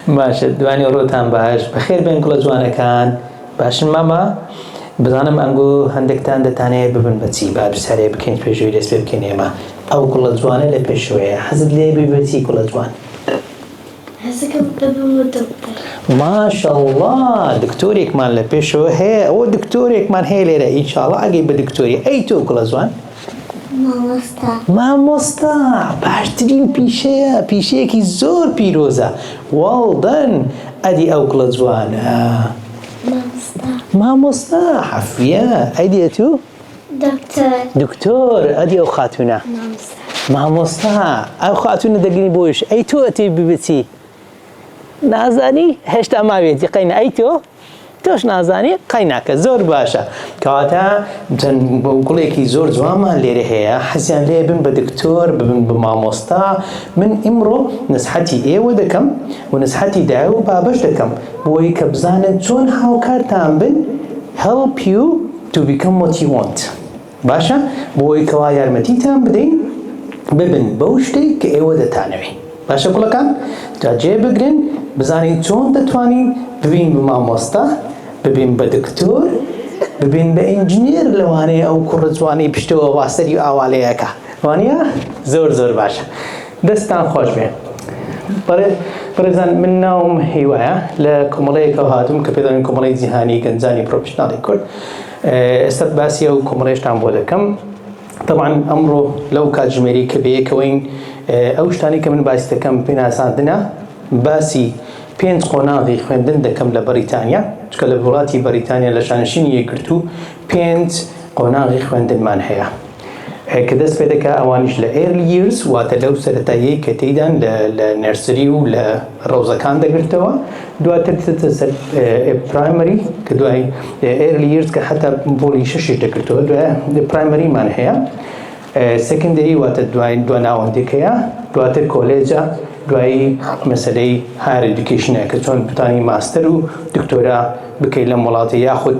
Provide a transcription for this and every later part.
باشە دوانی ڕۆتان باش بەخێر بێن گوڵە جوانەکان باشن مامە بزانم ئەنگۆ هەندێکتان دەتانەیە ببن بەچی با دووسارێ بکەین پێشوی دەست پێ بکەین ئێمە ئەو گوڵە جوانە لە پێشوەیە حەزت لێ بی بەچی گوڵە جوان ماشەڵڵا دکتۆرێکمان لە پێشەوە هەیە ئەوە دکتۆرێکمان هەیە لێرە ئینشاڵڵا ئەگەی بە دکتۆری ئەی تۆ گوڵە جوان مامۆستا. مامۆستا باشترین پیشەیە پیشەیەکی زۆر پیرۆزە واڵ دەن ئەدی ئەو کوڵە جوانە. مامۆستا. مامۆستا حەفیە ئەدی ئەتو. دکتۆر. دکتۆر ئەدی ئەو خاتونە. مامۆستا. مامۆستا ئەو خاتونە دەگری بۆیش ئەی تۆ ئەتوێ ببچی نازانی هێشتا ماوێتی قەینا ئەی تۆ. تۆش نازانی قەیناکە زۆر باشە کەواتە چەند گوڵێکی زۆر جوانمان لێرە هەیە حەزیان لێ بن بە دکتۆر ببن بە مامۆستا من ئیمڕۆ نسحەتی ئێوە دەکەم و نسحەتی دایە و بابش دەکەم بۆی کە بزانن چۆن هاوکارتان بن help you to become what you want باشە بۆ ئەوەی کەوا یارمەتیتان بدەین ببن بەو شتەی کە ئێوە دەتانەوێ باشە گوڵەکان جا جێ بگرن بزانین چۆن دەتوانین ببین بە مامۆستا ببین بە دکتۆر ببین بە ئینجنێر لەوانەیە ئەو کوڕە جوانی پشتەوە واسەری و ئاوالەیەکە وانە زۆر زۆر باشە دەستان خۆش بێ بەڕێزان من ناوم هیوایە لە کۆمەڵەیەکەوە هاتووم کە پێداین کۆمەڵی جیهانی گەنجانی پرۆفشنناڵی کورد ئێستا باسی ئەو کۆمەڵەشتان بۆ دەکەم تەبان ئەمڕۆ لەو کاتژمێری کە بەیەکەوەین ئەو شتانی کە من باسی دەکەم پێناساندنە باسی پێنج قۆناغی خوێندن دەکەم لە بەریتانیا چکە لە وڵاتی بەریتانیا لە شانشینی یەکگرتوو پێنج قۆناغی خوێندنمان هەیە ە کە دەست پێدەکا ئەوانیش لە Early Years واتە لەو سەرەتاییەی کە تێیدان لە لە نەرسری و لە ڕەوزەکان دەگرتەوە دواتر دەچێتە سەر Primary کە دوای Early Years کە حەتا پۆلی شەشیش دەگرتەوە دوای Primary مان هەیە Secondary واتە دوای دوا ناوەندێک هەیە دواتر کۆلێجە دوایی مەسەلەی Higher Education کە چۆن بتانی ماستەر و دکتۆرا بکەی لەم وڵاتە یاخود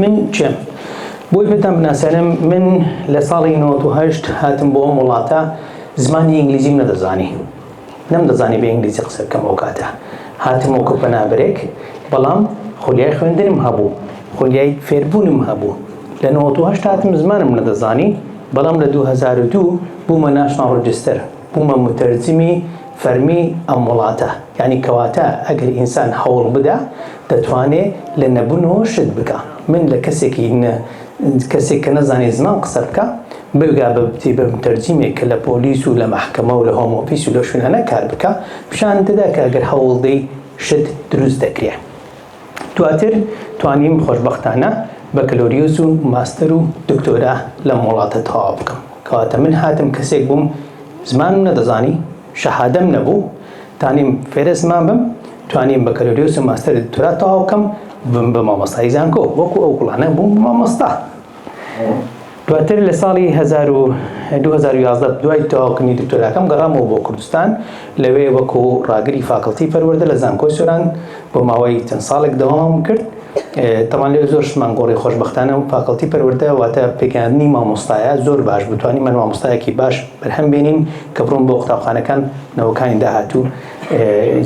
من کێم؟ بۆی پێتان بناسێنم من لە ساڵی 98 هاتم بۆ ئەم وڵاتە زمانی ئینگلیزیم نەدەزانی نەمدەزانی بە ئینگلیزی قسە بکەم ئەو کاتە هاتم و کە پەنابرێک بەڵام خولیای خوێندنم هەبوو خولیای فێربوونم هەبوو لە 98 هاتم زمانم نەدەزانی بەڵام لە 2002 بوومە ناشناڵ ڕجستەر بوومە متەرجمی فەرمی ئەم وڵاتە یعنی کەواتە ئەگەر ئینسان هەوڵ بدا دەتوانێ لە نەبونەوە شت بکا من لە کەسێکی نە کەسێک کە نەزانێ زمان قسە بکا بگا بە بتی بە متەرجیمێک کە لە پۆلیس و لە مەحکەمە و لە هۆم ئۆفیس و لە شوێنانە کار بکا پیشانت دەدا کە گەر هەوڵدەی شت دروست دەکرێ دواتر توانیم خۆشبەختانە بەکەلۆریۆس و ماستەر و دکتۆرا لەم وڵاتە تەواو بکەم کەواتە من هاتم کەسێک بووم زمانم نەدەزانی شەهادەم نەبوو تانیم فێرە زمان بم توانیم بەکەلۆریۆس و ماستەر دکتۆرا تەواو بکەم بم بە مامۆستای زانکۆ وەکو ئەو گوڵانە بووم بە مامۆستا دواتر لە ساڵی 2011 دوای تەواوکردنی دکتۆراکەم گەڕامەوە بۆ کوردستان لەوێ وەکو ڕاگری فاکڵتی پەروەردە لە زانکۆی سۆران بۆ ماوەی چەند ساڵێک دەوامم کرد تەمان لێ زۆر شتمان گۆڕی خۆشببختانە و پاکەڵتی پەروەردە واتە پێکاندنی مامۆستایە زۆر باش بتوانانی من مامۆستایەکی باش بەرهەم بینین کە بڕۆم بۆ قوتابخانەکان نەوەکانی داهاتوو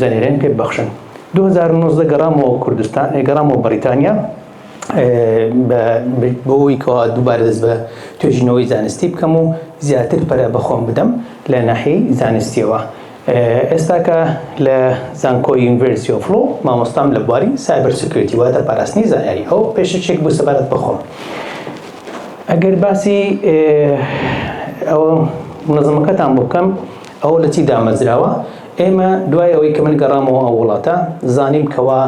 زانێرێن پێ ببخشن 2009 گەڕامەوە کوردستان گەڕامەوە بەریتانیا بۆەوەی کەوا دووبارە دەست بە توێژینەوەی زانستی بکەم و زیاتر پەرە بەخۆم بدەم لە ناحی زانستیەوە ئێستا کە لە زانکۆی یونیڤێرسیتی ئۆف لۆ مامۆستام لە بواری سایبەر سکیۆریتی واتە پاراستنی زانیاری ئەو پێشەکێک بوو سەبارەت بە خۆم ئەگەر باسی ئەوە منەزەمەکەتان بۆ بکەم ئەوە لە چی دامەزراوە ئێمە دوای ئەوەی کە من گەڕامەوە ئەو وڵاتە زانیم کەوا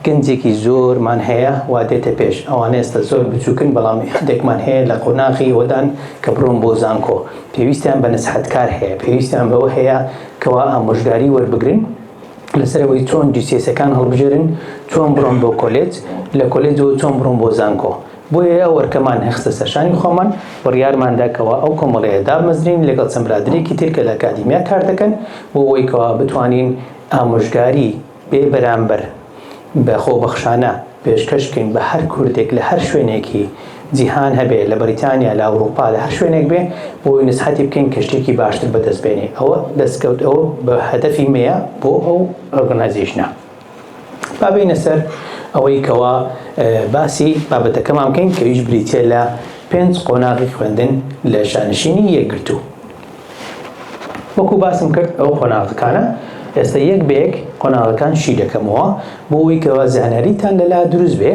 گەنجێکی زۆر مان هەیە وا دێتە پێش ئەوانە ئێستا زۆر بچوکن بەڵام هەندێکمان هەیە لە قۆناغی ئەوەدان کە بڕۆن بۆ زانکۆ پێویستیان بە نەسحەتکار هەیە پێویستیان بەوە هەیە کەوا ئامۆژگاری وەربگرن لەسەر ئەوەی چۆن جیسیەسەکان هەڵبژێرن چۆن بڕۆن بۆ کۆلێج لە کۆلێجەوە چۆن بڕۆن بۆ زانکۆ بۆیە ئەو ئەرکەمان هەخستە سەرشانی خۆمان بڕیارماندا کەوا ئەو کۆمەڵەیە دابمەزرین لەگەڵ چەند برادەرێکی تر کە لە ئەکادیمیا کار دەکەن بۆ ئەوەی کەوا بتوانین ئامۆژگاری بێ بەرامبەر بە خۆبەخشانە پێشکەش بکەین بە هەر کوردێک لە هەر شوێنێکی جیهان هەبێ لە بەریتانیا لە ئەوروپا لە هەر شوێنێک بێ بۆی نسحەتی بکەین کە شتێکی باشتر بەدەست بێنێ ئەوە دەستکەوت ئەوە بە هەدەفی مەیە بۆ ئەو ئۆرگنایزیشنە با بینە سەر ئەوەی کەوا باسی بابەتەکەمان بکەین کەویش بریتە لە پێنج قۆناغی خوێندن لە شانشینی یەکگرتوو وەکو باسم کرد ئەو قۆناغەکانە ئێستا یەک بە یەک قۆناغەکان شی دەکەمەوە بۆ ئەوەی کەوا زانیاریتان لەلا دروست بێ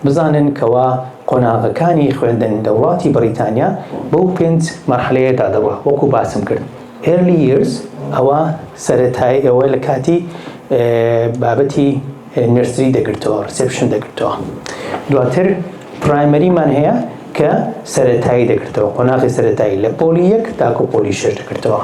بزانن کەوا قۆناغەکانی خوێندن لە وڵاتی بەڕیتانیا بەو پێنج مەرحەلەیەدا دەڕوا وەکو باسم کرد early years ئەوە سەرەتایی ئەوە لە کاتی بابەتی نێرسری دەگرتەوە ڕیسێپشن دەگرتەوە دواتر پرایمەریمان هەیە کە سەرەتایی دەگرتەوە قۆناغی سەرەتایی لە پۆلی یەک تاکو پۆلی شش دەگرتەوە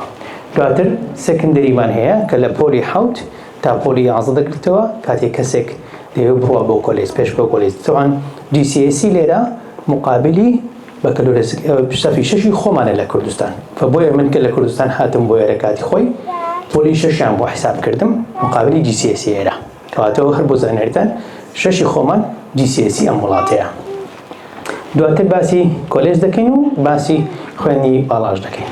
دواتر سەکندریمان هەیە کە لە پۆلی حوت تا پۆلی یازدە دەگرتەوە کاتێک کەسێک دەیەوێت بڕوا بۆ کۆلێج پێش بۆ کۆلێج تەوان GCSE لێرە مقابلی بەکەلۆرێسک سەفی شەشی خۆمانە لە کوردستان فە بۆیە من کە لە کوردستان هاتم بۆ ئێرە کاتی خۆی پۆلی شەشیان بۆ حیساب کردم مقابلی جیسیسی ئێرە کەواتەوە هەر بۆ زانیاریتان شەشی خۆمان جیسیسی ئەم وڵاتەیە دواتر باسی کۆلێز دەکەین و باسی خوێنی باڵاش دەکەین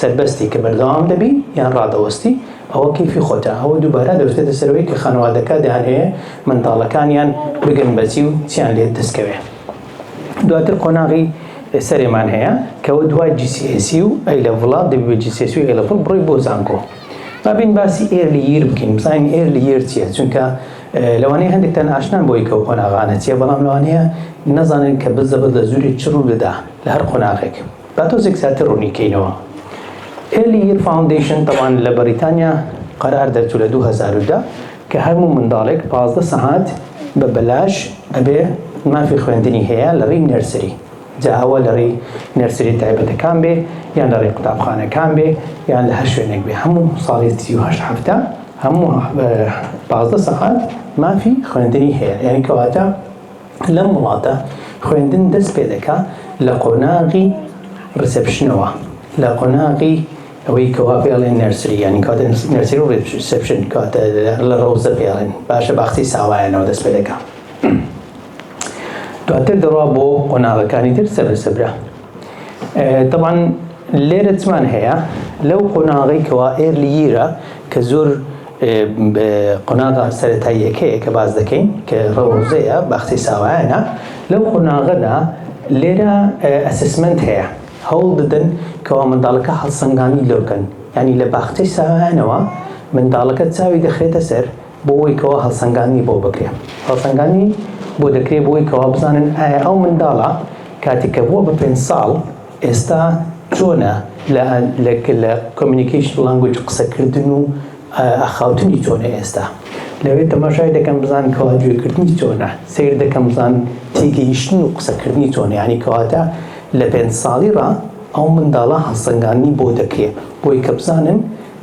سەربەستی کە بەردەوام دەبی یان ڕادەوەستی ئەوە کەیفی خۆتە، ئەوە دووبارە دەوتێتە سەرەوەی کە خانەوادەکە دەیانهەوێ منداڵەکانیان بگرن بە جی و چیان لێ دەست کەوێ. دواتر قۆناغی سەرێمان هەیە کە ئەوە دوای جیسیئێسی و ئەی لەڤڵە، دەبی بە جیسیئێسی و ئەی لەڤڵ بڕۆی بۆ زانکۆ. با بێین باسی ئێرلی ییر بکەین، بزانین ئێرلی ییر چییە، چونکە لەوانەیە هەندێکتان ئاشنان بەوەی کە ئەو قۆناغانە چییە، بەڵام لەوانەیە نەزانن کە بزەبەت لە زوورێ چ ڕوو دەدا لە هەر قۆناغێک. با تۆزێک زیاتر ڕوونی کەینەوە ئێلی ییر فاوندەیشن تەوان لە بەریتانیا قەرار دەرچوو لە دوو هەزار و دە کە هەرموو منداڵێک پازدە سەعات بە بەلاش ئەبێ مافی خوێندنی هەیە لە ڕیی نێرسری جا ئەوە لە ڕیی نێرسری تایبەتەکان بێ یان لە ڕێی قوتابخانەکان بێ یان لە هەر شوێنێک بێ هەموو ساڵی سی و هەشت هەفتە هەموو پازدە سەعات مافی خوێندنی هەیە یعنی کەواتە لەم وڵاتە خوێندن دەست پێ دەکا لە قۆناغی ڕیسێپشنەوە، لە قۆناغی ئەوەی کەوا پێ ئەڵێن نێرسری یانی کەواتە نێرسری و ڕیسێپشن کەواتە لە ڕەوزە پێ ئەڵێن باشە باخچەی ساوایانەوە دەست پێ دەکا دواتر دەڕوا بۆ قۆناغەکانی تر سەبرە سەبرە. طبعا لێرە چمان هەیە لەو قۆناغی کەوا ئێرلی یرە کە زۆر قۆناغا سەتاییەکەیە کە باز دەکەین کە ڕەوزەیە باخچەی ساوایانە لەو قۆناغەدا لێرە ئەسسمنت هەیە هەوڵ دەدەن کەوا منداڵەکە هەڵسەنگاندی لۆکەن ینی لە باخچەی ساوایانەوە منداڵەکە چاوی دەخرێتە سەر بۆ ئەوەی کەوا هەڵسەنگاندنی بۆ بکرێ هەڵسەنگاندنی بۆ دەکرێ بۆی کەوا بزانن ئایا ئەو منداڵە کاتێک کە بووە بە پێنج ساڵ ئێستا چۆنە لە لە لە کۆمیونیکەیشن لانگوج قسەکردن و ئاخاوتنی چۆنە ئێستا لەوێ تەماشای دەکەم بزان کەوا گوێکردنی چۆنە سیر دەکەم بزان تێگەیشتن و قسەکردنی چۆنە ینی کەواتە لە پێنج ساڵی ڕا ئەو منداڵە هەڵسەنگاندنی بۆ دەکرێ بۆی کە بزانن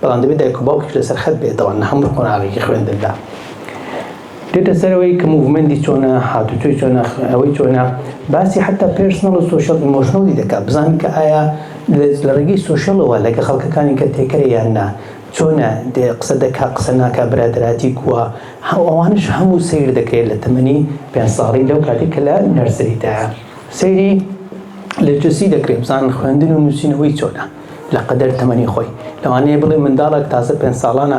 بەڵام دەبێت دایک و باوکیش لەسەر خەت بێتەوە نە هەموو قۆناغێکی خوێندندا دێتە سەرەوەی کە موڤمەندی چۆنە هاتوچۆی چۆنە ئەوەی چۆنە باسی حتا پێرسنەڵ و سوۆشەڵ ئیمۆشنڵی دەکات بزانین کە ئایا لە ڕێگەی سوۆشەڵەوە لەگە خەڵکەکانی کە تێکەرە یان نا چۆنە دێ قسە دەکا قسە ناکە برادراتی کووە ئەوانش هەموو سیر دەکرێت لە تەمەنی پێ ساڵی لەو کاتی کە لە نەرسریدا سەیری لە جسی دەکرێت بزان خوێندن و نووسینەوەی چۆنە لە قەدەر تەمەنی خۆی لەوانەیە بڵێ منداڵێک تازە پێنج ساڵانە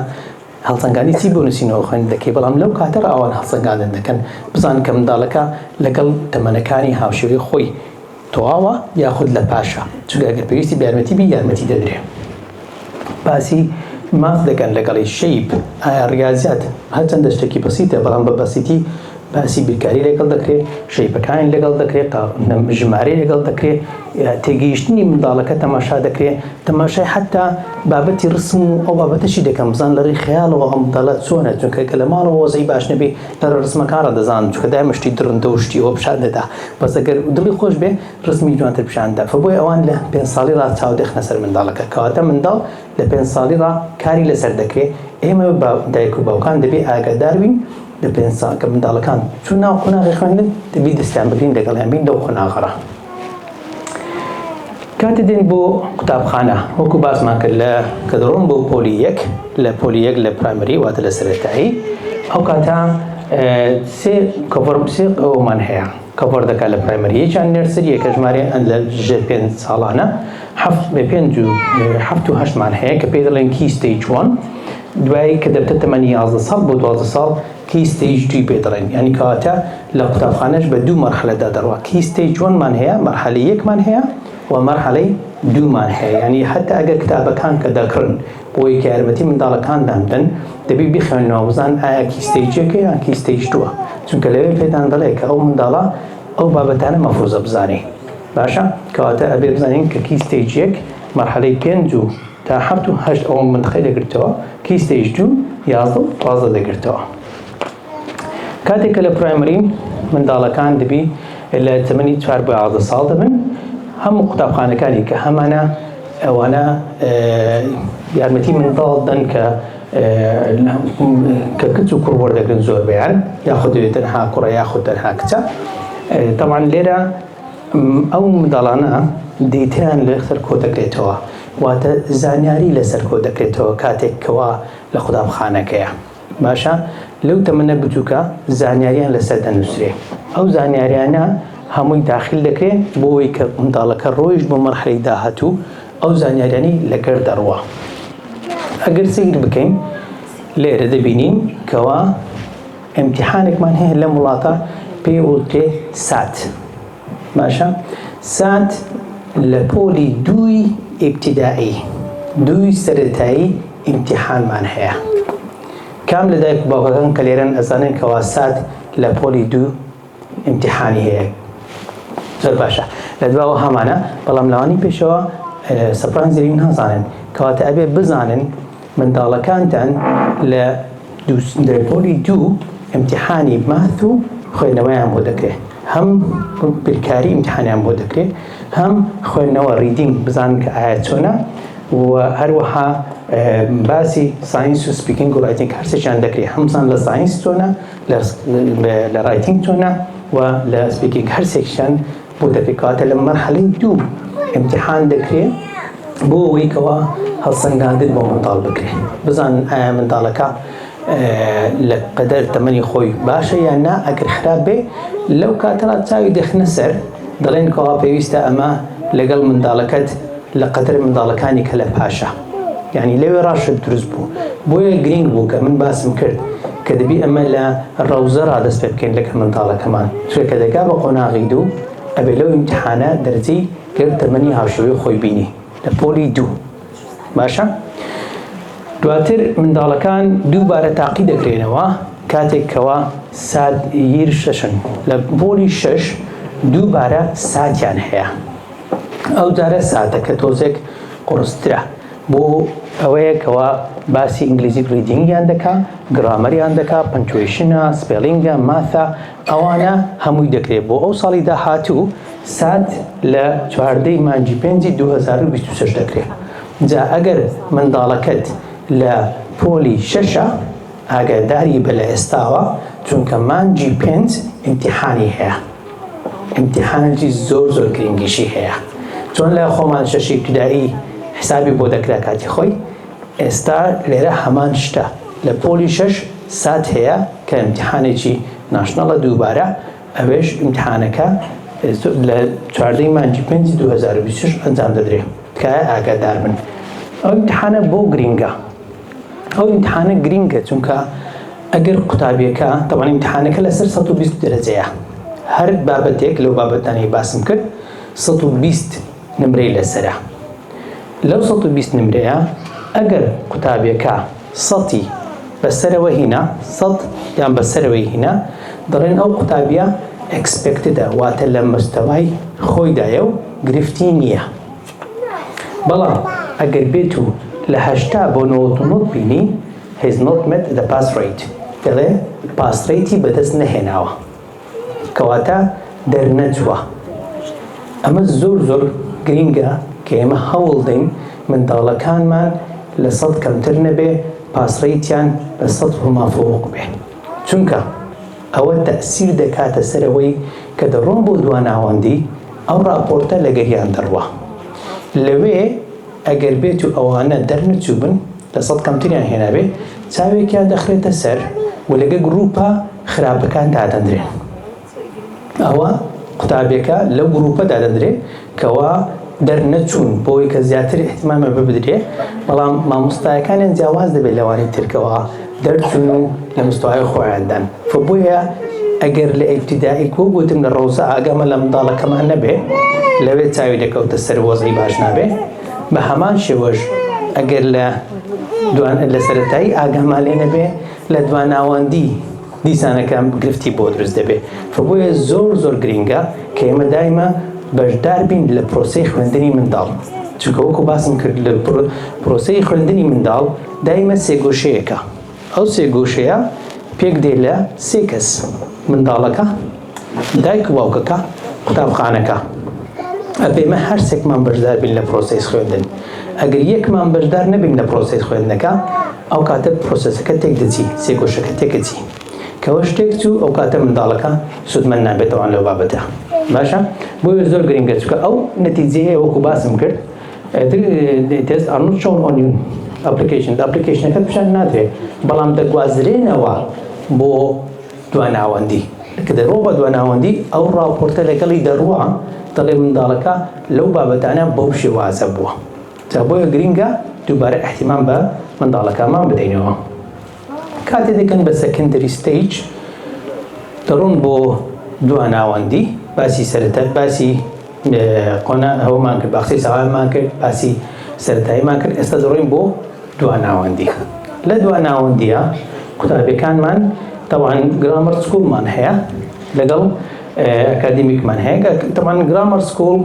هەڵسەنگانی چی بۆ نووسینەوە خوێن دەکەی بەڵام لەو کاتە ڕاوان هەڵسەنگاندن دەکەن بزان کە منداڵەکە لەگەڵ تەمەنەکانی هاوشێوەی خۆی تەواوە یاخود لە پاشە چونکە ئەگەر پێویستی بە یارمەتی بی یارمەتی دەدرێ باسی ماف دەکەن لەگەڵی شەیب ئایا ڕاضات هەرچەندە شتێکی بەسیتە بەڵام بە بەسیتی باسی بیرکاری لەگەڵ دەکرێت، شەیپەکانی لەگەڵ دەکرێت، ژمارەی لەگەڵ دەکرێت، تێگەیشتنی منداڵەکە تەماشا دەکرێت، تەماشای حەتتا بابەتی ڕسم و ئەو بابەتەشی دەکەن، بزانن لەڕێی خەیاڵەوە ئەو منداڵە چۆنە، چونکە گەر لە ماڵەوە وەزعی باش نەبێت، لەڕێی ڕسمەکانڕا دەزانن، چونکە دایمە شتی دڕندە و شتی ئەوە پیشان دەدا، بەس ئەگەر دڵی خۆش بێت ڕسمی جوانتر پیشان دەدا، فە بۆیە ئەوان لە پێنج ساڵیڕا چاو دەخەنە سەر منداڵەکە، کەواتە منداڵ. لە پێنج ساڵی ڕا کاری لەسەر دەکرێ، ئێمە با دایک و باوکان دەبێ ئاگادار بین لە پێنج ساڵ کە منداڵەکان چوون ناو قۆناغی خوێندن دەبی دەستیان بگرین لەگەڵیان بین لەو قۆناغە ڕا. کاتێ دێن بۆ قوتابخانە وەکو باسمان کرد لە کە دەڕۆن بۆ پۆلی یەک لە پۆلی یەک لە پرایمەری واتە لە سەرەتایی ئەو کاتە سێ کۆفۆرم سێ ئەومان هەیە کەڤەر دەکات لە پرایمەری یەک یان نێرسری یەک کە ژمارەی ئەن لە ژێر پێنج ساڵانە حەفت بە پێنج و حەفت و هەشتمان هەیە کە پێی دەڵێن کی ستەیج وان دوایی کە دەبتە تەمەنی یازدە ساڵ بۆ دوازدە ساڵ کی ستەیج دوی پێ دەڵێن یانی کەواتە لە قوتابخانەش بە دوو مەرحەلەدا دەڕوا کی ستەیج وەنمان هەیە مەرحەلە یەکمان هەیە و مەرحەلەی دوومان هەیە یانی هەتا ئەگەر کتابەکان کە دەکڕن بۆی کە یارمەتی منداڵەکانتان بدەن دەبی بیخوێنەوە بزان ئایا کیستەیجێکە یان کیستەیج دووە چونکە لەوێ پێتان دەڵێ کە ئەو منداڵە ئەو بابەتانە مەفروزە بزانێ باشە کەواتە ئەبێ بزانین کە کیستەیج یەک مەرحەلەی پێنج و تا حەفت و هەشت ئەوە مندخەی دەگرتەوە کیستەیج دوو یازدە و دوازدە دەگرتەوە کاتێک کە لە پرایمەری منداڵەکان دەبی لە تەمەنی چوار بۆ یازدە ساڵ دەبن هەموو قوتابخانەکانی کە هەمانە ئەوانە یارمەتی منداڵ دەن کە کە کچ و کوڕ وەردەگرن زۆر بیان یاخود دەوێت تەنها کوڕە یاخود تەنها کچە تەوان لێرە ئەو منداڵانە دیتیان لە سەرکۆ دەکرێتەوە واتە زانیاری لەسەر کۆ دەکرێتەوە کاتێک کەوا لە قوتابخانەکەیە. باشە لەو تەمەنە بچووکە زانیاریان لەسەر دەنووسرێ ئەو زانیاریانە هەمووی داخل دەکرێ بۆەوەی کە منداڵەکە ڕۆیش بۆ مەرحەی داهاتوو ئەو زانیاریانی لەگەر دەڕوە ئەگەر سیر بکەین لێرە دەبینین کەوا ئەمتیحانێکمان هەیە لەم وڵاتە پێ وڵتێ سات باشە سات لە پۆلی دووی ئیبتیدایی دووی سەرەتایی ئیمتیحانمان هەیە کام لە دایک و باوکەکان کە لێرەن ئەزانن کەوا سات لە پۆلی دوو ئیمتیحانی هەیە زۆر باشە لە دواوە هەمانە بەڵام لەوانی پێشەوە سەپرانزری نازانن کەواتە ئەبێ بزانن منداڵەکانتان لە پۆلی دوو ئیمتیحانی ماث و خوێندنەوەیان بۆ دەکرێت هەم بیرکاری ئیمتحانیان بۆ دەکرێت هەم خوێندنەوە ریدینگ بزانن کە ئایا چۆنە و هەروەها باسی ساینس و سپیکینگ و ڕایتینگ هەرسێکیان دەکرێت هەم بزان لە ساینس چۆنە لە ڕایتینگ چۆنە و لە سپیکینگ هەرسێکیان بۆ دەکرێت کاتە لە مەرحەلەی دوو امتحان دەکرێت بۆ ئەوەی کەوا هەڵسەنگاندن بۆ منداڵ بکرێت بزانن ئایا منداڵەکە لە قەدەر تەمەنی خۆی باشە یان نا ئەگەر خراپ بێ لەو کاتەڵا چاوی دەخنە سەر دەڵێن کەوا پێویستە ئەمە لەگەڵ منداڵەکەت لە قەدەر منداڵەکانی کە لە پاشە یعنی لەوێ ڕاشت دروست بوو بۆیە گرنگ بوو کە من باسم کرد کە دەبی ئەمە لە ڕەوزە ڕادەست پێ بکەین لەگەڵ منداڵەکەمان چێ کە دەگا بە قۆناغی دوو ئەبێ لەو امتحانە دەرجەی گەر تەمەنی هاوشێوەی خۆی بینی لە پۆلی دوو باشە دواتر منداڵەکان دووبارە تاقی دەکرێنەوە کاتێک کەوا سات یر شەشن لە پۆلی شەش دووبارە ساتیان هەیە ئەو جارە ساتەکە تۆزێک قڕسترە بۆ ئەوەیە کەوا باسی ئینگلیزی ریدینگیان دەکا گرامەریان دەکا پنتویشنە سپێلینگە ماثە ئەوانە هەمووی دەکرێت بۆ ئەو ساڵی داهاتوو سات لە چواردە ی مانگی پێنجی دوو هەزار و بیست و شەش دەکرێت جا ئەگەر منداڵەکەت لە پۆلی شەشە ئاگاداری بە لە ئێستاوە چونکە مانگی پێنج ئیمتیحانی هەیە ئیمتیحانێکی زۆر زۆر گرنگیشی هەیە چۆن لە خۆمان شەشی ابتدائی حسابی بۆ دەکرا کاتی خۆی ئێستا لێرە هەمان شتە لە پۆلی شەش سات هەیە کە ئیمتیحانێکی ناشناڵە دووبارە ئەوێش ئیمتیحانەکە لە چواردە ی مانگی پێنجی دوو هەزار و بیست و شەش ئەنجام دەدرێ تکایە ئاگادار بن ئەو ئیمتیحانە بۆ گرینگە ئەو ئیمتیحانە گرینگە چونکە ئەگەر قوتابیەکە تەوان ئیمتیحانەکە لەسەر سەد و بیست دەرەجەیە هەر بابەتێک لەو بابەتانەی باسم کرد سەد و بیست نمرەی لەسەرە لەو سەد و بیست نمرەیە ئەگەر قوتابیەکە سەتی بەسەرەوە هینا سەد یان بەسەرەوەی هینا دەڵێن ئەو قوتابیە ئەکسپێکتدە واتە لە مەستەوای خۆیدایە و گرفتی نییە بەڵام ئەگەر بێت و لە هەشتا بۆ نەوەد و نۆ بینی هیز نۆت مێت دە پاس ڕەیت دەڵێ پاس ڕەیتی بەدەست نەهێناوە. کەواتە دەرنەچووە. ئەمە زۆر زۆر گرینگە کە ئێمە هەوڵدەین منداڵەکانمان لە سەد کەمتر نەبێ پاسڕەیتیان لە سەد و مافوق بێ چونکە ئەوە تەئسیر دەکاتە سەر ئەوەی کە دەڕۆن بۆ دواناوەندی ئەو ڕاپۆرتە لەگەریان دەڕوا لەوێ ئەگەر بێتو ئەوانە دەرنەچووبن لە سەد کەمتریان هێنابێ چاوێکیان دەخرێتە سەر و لەگە گروپە خراپەکان دادەندرێن ئەوە قوتابیەکە لەو گروپە دادەندرێ کەوا دەرنەچوون بۆی کە زیاتر احتمامە ببدرێ بەڵام مامۆستایەکانیان جیاواز دەبێت لەوانی ترکەوە دەرچون و لە مستوای خۆیاندان فبۆیە ئەگەر لە ئیبتیدایی کو گوتم لە ڕۆزە ئاگامە لە منداڵەکەمان نەبێ لەوێ چاوی دەکەوتە سەر وەزعی باش نابێ بە هەمان شێوەش ئەگەر لە دوان لە سەرەتایی ئاگامان لێ نەبێ لە دواناوەندی دیسانەکە گرفتی بۆ دروست دەبێ فبۆیە زۆر زۆر گرینگە کە ئێمە دایمە بەشدار بین لە پرۆسی خوێندنی منداڵ چونکە وەکو باسم کرد لە پرۆسی خوێندنی منداڵ دایمە سێگۆشەیەەکە ئەو سێگۆشەیە پێک دێ لە سێ کەس منداڵەکە دایک و باوکەکە قوتابخانەکە ئەپێمە هەرسێکمان بەشدار بین لە پرۆسەی خوێندن ئەگەر یەکمان بەشدار نەبین لە پرۆسەی خوێندنەکە ئەو کاتە پرۆسەسەکە تێک دەچی سێگۆشەکە تێکەچی کەەوە شتێک چوو ئەو کاتە منداڵەکە سوودمەند نابێتەوەان لەو بابەتە باشە بۆیە زۆر گرنگە چکە ئەو نەتیجەیە وەکو باسم کرد تێست ئەڕ چۆن ئۆنیون ئەپلیکیشن ئەپلیکیشنەکە پیشان نادرێت بەڵام دەگوازرێنەوە بۆ دواناوەندی، کە دەرۆم بە دواناوەندی، ئەو ڕاپۆرتە لەگەڵی دەڕوا، دەڵێ منداڵەکە لەو بابەتانە بەو شێوازە بووە. جا بۆیە گرینگە دووبارە ئیهتیمام بە منداڵەکانمان بدەینەوە. کاتێ دەگەن بە سەکەندەری ستەیج، دەڕۆن بۆ دواناوەندی، باسی سەرەتای باسی. قۆناغ ئەوەمان کرد باقسەی سەوارمان کرد باسی سەرەتاییمان کرد ئێستا دەڕۆین بۆ دوا ناوەندی لە دوا ناوەندیە قوتابەکانمان تەوان گرامەر سکوڵمان هەیە لەگەڵ ئەکادمیکمان هەیە تەوان گرامەر سکوڵ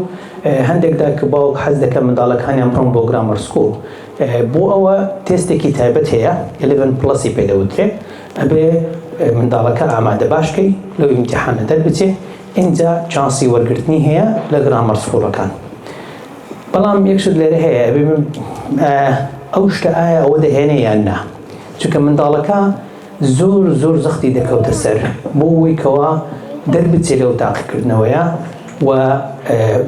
هەندێکدا کە باوک حەز دەکە منداڵەکانیان بڕۆن بۆ گرامەر سکوڵ بۆ ئەوە تێستێکی تایبەت هەیە 11 پلسی پێدەوترێ ئەبێ منداڵەکە ئامادە باشکەی لەو ئیمتحانە دەربچێ ئینجا چانسی وەرگرتنی هەیە لە گرامەر سکوڵەکان بەڵام یەک شت لێرە هەیە ئەبێ ئەو شتە ئایا ئەوە دەهێنێ یان نا چونکە منداڵەکە زۆر زۆر زەختی دەکەوتە سەر بۆ ئەوی کەوا دەربچێ لەو تاقیکردنەوەیە و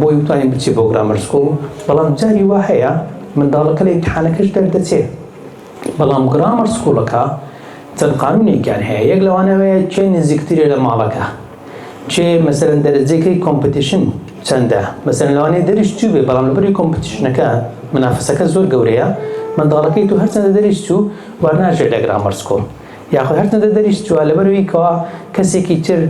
بۆی وتانی بچێ بۆ گرامەر سکوڵ بەڵام جاری وا هەیە منداڵەکە لە ئیمتحانەکەش دەردەچێ بەڵام گرامەر سکوڵەکە چەند قانونێکیان هەیە یەک لەوان ئەوەیە کێ نزیکترە لە ماڵەکە کێ مەسەلەن دەرەجەکەی کۆمپتیشن چەندە مەسەلەن لەوانەیە دەریش چوو بێ بەڵام لەبری کۆمپتیشنەکە منافەسەکە زۆر گەورەیە منداڵەکەی تو هەرچەندە دەریش چوو وەرناژێ لە گرامەر سکوڵ یاخود هەرچەندە دەریش چووە لەبەرەوەی کەوا کەسێکی تر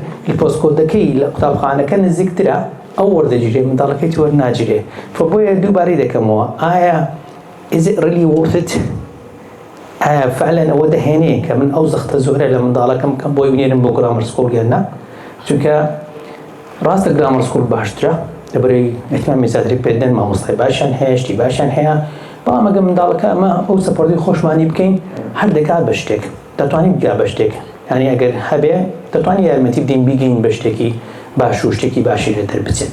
پۆسکۆدەکەی لە قوتابخانەکە نزیکترە ئەو وەردەگیرێ منداڵەکەی تو وەرناگیرێ فۆ بۆیە دووبارەی دەکەمەوە ئایا Is it really worth it ئایا فعلەن ئەوە دەهێنێ کە من ئەو زەختە زۆرە لە منداڵەکەم بکەم بۆی بنێرم بۆ گرامەر سکوڵ یان نا چونکە ڕاستە گرامەر سکوڵ باشترە لەبەرەی ئەتمامی زیاتری پێدەن مامۆستای باشیان هەیە شتی باشیان هەیە بەڵام ئەگە منداڵەکە ئەمە ئەو سەپۆرتی خۆشمانی بکەین هەر دەکات بە شتێک دەتوانین بگا بە شتێک یعنی ئەگەر هەبێ دەتوانین یارمەتی بدەین بیگەین بە شتێکی باش و شتێکی باشی لێ دەربچێت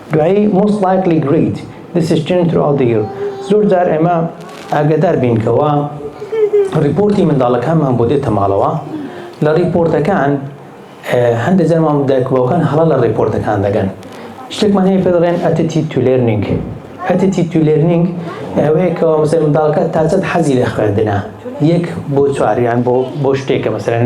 دوایی most likely great this is changed throughout the year زۆر جار ئێمە ئاگادار بین کە وا ڕیپۆرتی منداڵەکانمان بۆ دێتە ماڵەوە لە ڕیپۆرتەکان هەندێک جار مام دایک باوکان هەڵە لە ڕیپۆرتەکان دەگەن شتێکمان هەیە پێ دەڵێن ئەتیتیود تو لێرنینگ ئەتیتیود تو لێرنینگ ئەوەیە کە مەسەلەن منداڵەکە تا چەند حەزی لە خوێندنە یەک بۆ چوار یان بۆ بۆ شتێکە مەسەلەن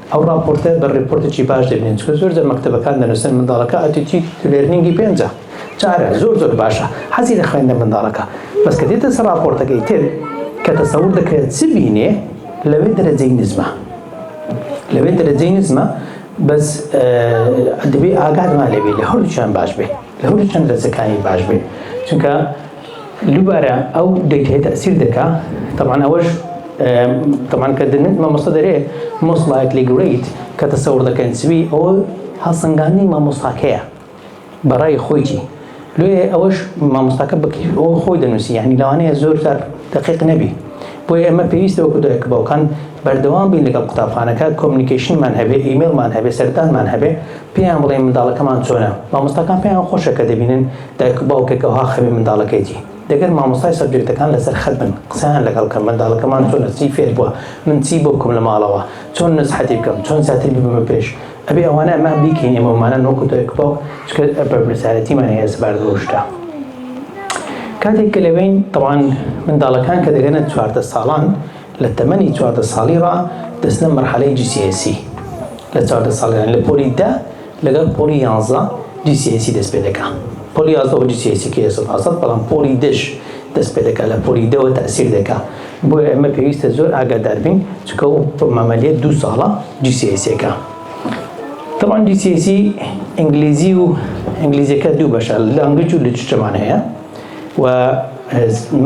ئەو ڕاپۆرتە بە ڕێپۆرتێکی باش دەبینن چونکە زۆر جار مەکتەبەکان دەنووسن منداڵەکە ئەتیتیوی لێرنینگی پێنجە چارە زۆر زۆر باشە حەزی لە خوێندە منداڵەکە بەس کە دێتە سەر ڕاپۆرتەکەی تر کە تەسەور دەکرێت چ بینێ لەوێ دەرەجەی نزمە لەوێ دەرەجەی نزمە بەس دەبێ ئاگادمان لەبێ لە هەردووچیان باش بێ لە هەردووچەند دەرجەکانی باش بێ چونکە دووبارە ئەو دەیت هەیە تەئسیر دەکا طبعا ئەوەش طبعا کە دەنێت مامۆستا دەرێ مۆست لایکلی گرەیت کە تەسەور دەکەن سوی ئەوە هەڵسەنگاندنی مامۆستاکەیە بەڕای خۆیتی لێ ئەوەش مامۆستاکە بەکیف ئەو خۆی دەنووسی یعنی لەوانەیە زۆر جار دەقیق نەبی بۆیە ئێمە پێویستە وەکو دایک و باوکان بەردەوام بین لەگەڵ قوتابخانەکە کۆمنیکەیشنمان هەبێ ئیمێڵمان هەبێ سەردانمان هەبێ پێیان بڵێین منداڵەکەمان چۆنە مامۆستاکان پێیان خۆشە کە دەبینن دایک و باوکێک ئەوها خەمی منداڵەکەیەتی دەگەر مامۆستای سەبجێکتەکان لەسەر خەت بن قسەیان لەگەڵ کەن منداڵەکەمان چۆنە چی فێر بوە من چی بۆ بکەم لە ماڵەوە چۆن نسحەتی بکەم چۆن زیاتر ببەمە پێش ئەبێ ئەوانە ئەمە بیکەین ئێمە ومانان وەکو دایک و باوک چکە بەرپرسیارەتیمان هەیە سەبارەت بەو شتە کاتێک کە لەوێین تەوان منداڵەکان کە دەگەنە چواردە ساڵان لە تەمەنی چواردە ساڵی ڕا دەستنە مەرحەلەی جی سی ئێسی لە چواردە ساڵیان لە پۆلی دە لەگەڵ پۆڵی یانزە جی سی ئێ سی دەست پێ دەکا پۆڵی یازدە وە جی سی ئێ سی کەیە سەد هەسەد بەڵام پۆڵی دەش دەست پێ دەکا لە پۆلی دەوە تەئسیر دەکا بۆیە ئێمە پێویستە زۆر ئاگادار بین چونکە ئەو مەمەلیە دوو ساڵە جی سی ئێ سیەکە تەمان جی سی ئێ سی ئینگلیزی و ئینگلیزیەکە دوو بەشە لانگویج و لیترچەمان هەیە و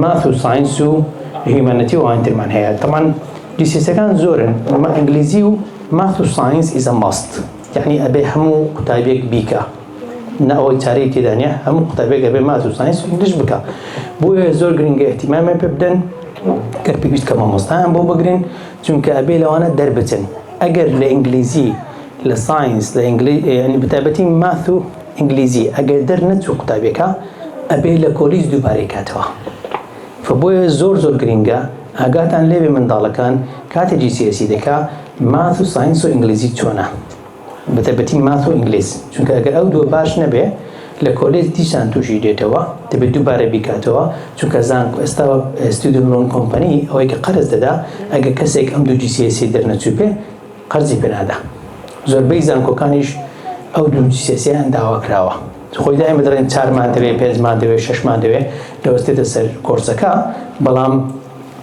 ماث و ساینس و هیومانەتی و ئاینترمان هەیە تەمان جی سی ئێ سیەکان زۆرن ئینگلیزی و ماث و ساینس ئیزە ماست یەعنی ئەبێ هەموو قوتابیەک بیکا نە ئەوەی چارەی تێدا نیە هەموو قوتابێک ئەبێ ماس و ساینس و ئینگلیش بکا بۆیە زۆر گرنگە احتیمامیان پێ بدەن گەر پێویست کە مامۆستایان بۆ بگرن چونکە ئەبێ لەوانە دەربچن ئەگەر لە ئینگلیزی لە ساینس لە ینی بتابەتی ماث و ئینگلیزی ئەگەر دەر نەچوو قوتابێکە ئەبێ لە کۆلیس دووبارەی کاتەوە فبۆیە زۆر زۆر گرنگە ئاگاتان لێوێ منداڵەکان کاتێ جیسیسی دەکا ماث و ساینس و ئینگلیزی چۆنە؟ بەتایبەتی ماث و ئینگلیز چونکە ئەگەر ئەو دووە باش نەبێ لە کۆلێج دیسان تووشی دێتەوە دەبێت دووبارە بیکاتەوە چونکە زانکۆ ئێستا ستودنت لۆن کۆمپەنی ئەوەی کە قەرز دەدا ئەگەر کەسێک ئەم دوو GCSE دەرنەچووبێ قەرزی پێ نادا زۆربەی زانکۆکانیش ئەو دوو GCSE یان داوا کراوە خۆی دایمە دەڵێن چارمان دەوێ پێنجمان دەوێ شەشمان دەوێ لەوەستێتە سەر کۆرسەکە بەڵام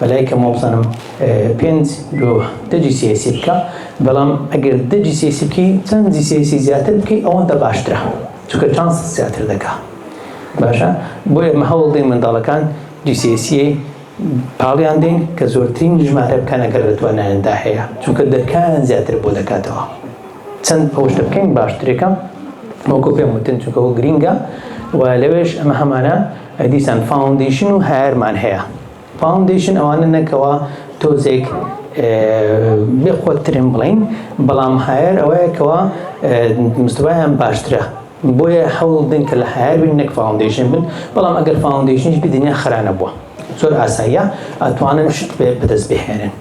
بەلای کەم وابزانم پێنج لۆ دە جی سیاسی بکە بەڵام ئەگەر دە جی سیاسی بکەی چەند جی سیاسی زیاتر بکەی ئەوەندە باشترە چونکە چانس زیاتر دەکا باشە بۆیە مە هەوڵ دەین منداڵەکان جی سیاسی پاڵیان دەین کە زۆرترین ژمارە بکەن ئەگەر لە توانایاندا هەیە چونکە دەرکان زیاتر بۆ دەکاتەوە چەند ئەوش دەبکەین باشترێکە وەکو پێم وتن چونکە ئەو گرینگە و لەوێش ئەمە هەمانە دیسان فاوندیشن و هەرمان هەیە فاوندەیشن ئەوانە نە کەوا تۆزێک بێ خۆت ترم بڵین بەڵام هایەر ئەوەیە کەوا مستوایان باشترە بۆیە حەوڵ دن کە لە هایەر بین نەک فاوندەیشن بن بەڵام ئەگەر فاوندەیشنیش بدنیا خرانە بووە زۆر ئاساییە ئەتوانن شت بەدەست بهێنن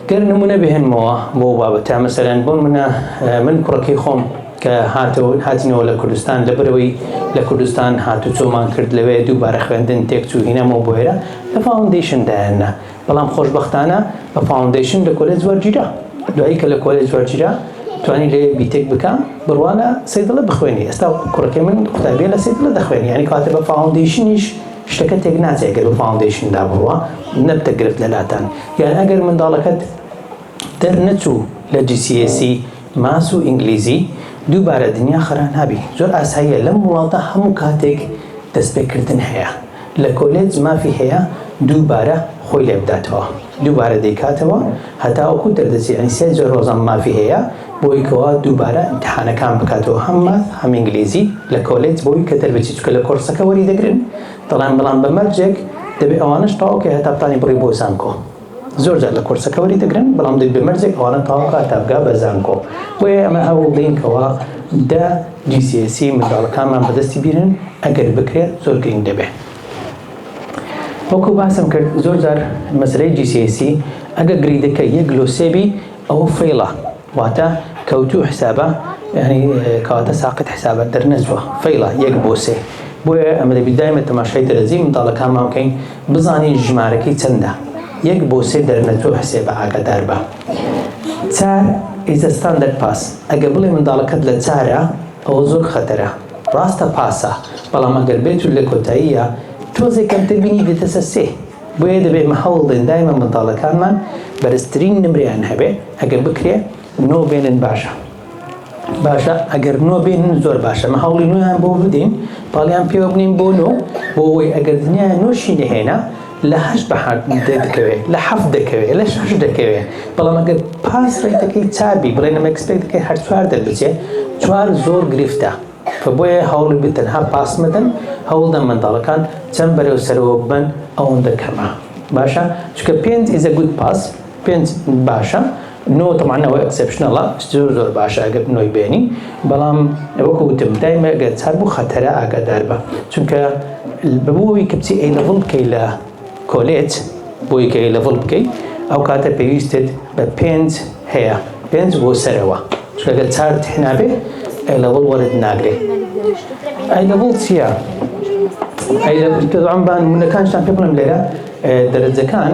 گەر نمونە بهێنمەوە بۆ ئەو بابەتە مەسەلەن بۆ منە من کوڕەکەی خۆم کە هاتەوە هاتینەوە لە کوردستان لەبەرەوەی لە کوردستان هاتو چۆمان کرد لەوێ دووبارە خوێندن تێکچوو هینامەوە بۆێرە لە فاوندیشن دایاننا بەڵام خۆشببختانە بە فاوندیشن لە کۆلێ زوەرگیرا دوایی کە لە کۆلێ زوەرگیرا توانی لێ بیتێک بکە بڕوانە سیدڵە بخوێنی ئێستا کوڕەکەی من قوتابیە لە سیدڵە دەخوێنی ینی کاتە بە فاوندیشنیش شتەکە تێک ناچێ گەر بە فاوندەیشندا بڕوا نەبتە گرفت لەلاتان یان ئەگەر منداڵەکەت دەرنەچوو لە GCSE ماس و ئینگلیزی دووبارە دنیا خەرا نابی زۆر ئاساییە لەم وڵاتە هەموو کاتێک دەستپێکردن هەیە لە کۆلێج مافی هەیە دووبارە خۆی لێبداتەوە. دووبارە دەیکاتەوە هەتاوەکو دەردەچێت یانی سێ جار ڕۆژانە مافی هەیە بۆی کەوا دووبارە ئیمتیحانەکان بکاتەوە هەم ماث هەم ئینگلیزی لە کۆلێج بۆی کە دەربچێت چونکە لە کۆڕسەکە وەری دەگرن دەڵێن بەڵام بە مەرجێک دەبێت ئەوانەش تەواو کەی هەتا بتانی بڕی بۆ زانکۆ زۆر جار لە کۆرسەکە وەری دەگرن بەڵام دەبێت بە مەرجێک ئەوانە تەواو کە هەتا بگا بە زانکۆ بۆیە ئەمە هەوڵ دەین کەوا دە جی سی ئێسی منداڵەکانمان بەدەستی بیرن ئەگەر بکرێت زۆر گرنگ دەبێت وەکو باسم کرد زۆر جار مەسەلەی GCSE ئەگەر گریدەکە یەک لۆ سێ بی ئەوە فەیڵە واتە کەوتوو حسابە یعنی کەواتە ساقت حسابە دەرنەچووە فەیڵە یەک بۆ سێ بۆیە ئەمە دەبی دایمە تەماشای دەرەجەی منداڵەکانمان بکەین بزانین ژمارەکەی چەندە یەک بۆ سێ دەرنەچووە حسێبە ئاگادار بە چار ئیزە ستاندەر پاس ئەگە بڵێ منداڵەکەت لە چارە ئەوە زۆر خەتەرە ڕاستە پاسە بەڵام ئەگەر بێت و لەکۆتاییا تۆزێ کەمتر بینی دێتەسە سێ بۆیە دەبێ مە هەوڵدەین دایمە منداڵەکانمان بەرزترین نمرەیان هەبێ ئەگەر بکرێ نۆ بێنن باشە باشە ئەگەر نۆ بێنن زۆر باشە مە هەوڵی نۆیان بۆ بدەین پاڵیان پێوە بنین بۆ نۆ بۆ ئەوەی ئەگەر دنیایان نۆشی نەهێنا لە هەشت بە حەفت دەکەوێ لە حەفت دەکەوێ لە شەش دەکەوێ بەڵام ئەگەر پاس ڕێتەکەی چار بی بڵێ نم ئەکسپێکتەکەی هەر چوار دەربچێ چوار زۆر گرفتە کە بۆیە هەوڵی بە تەنها پاس مەدەن هەوڵدەن منداڵەکان چەند بەرەو سەرەوە ببەن ئەوەندە کەمە باشە چونکە پێنج ئیزە گود پاس پێنج باشە نۆ تەبعەن ئەوە ئێکسێپشنەڵە زۆر زۆر باشە ئەگەر نۆی بێنی بەڵام وەکو وتم دایمە ئەگەر چار بوو خەتەرە ئاگادار بە چونکە بەبووەوەی کە بچی ئەی لەڤڵ بکەی لە کۆلێت بۆی کە ئەی لەڤڵ بکەی ئەو کاتە پێویستت بە پێنج هەیە پێنج بۆ سەرەوە چونکەگەر چارت هێنابێ ئەی لەڤڵ وەرت ناگرێ ئەی لەڤڵ چییە؟ ئەی لەڤڵ تەبعەن بان منەکانشتان پێ بڵێم لێرە دەرەجەکان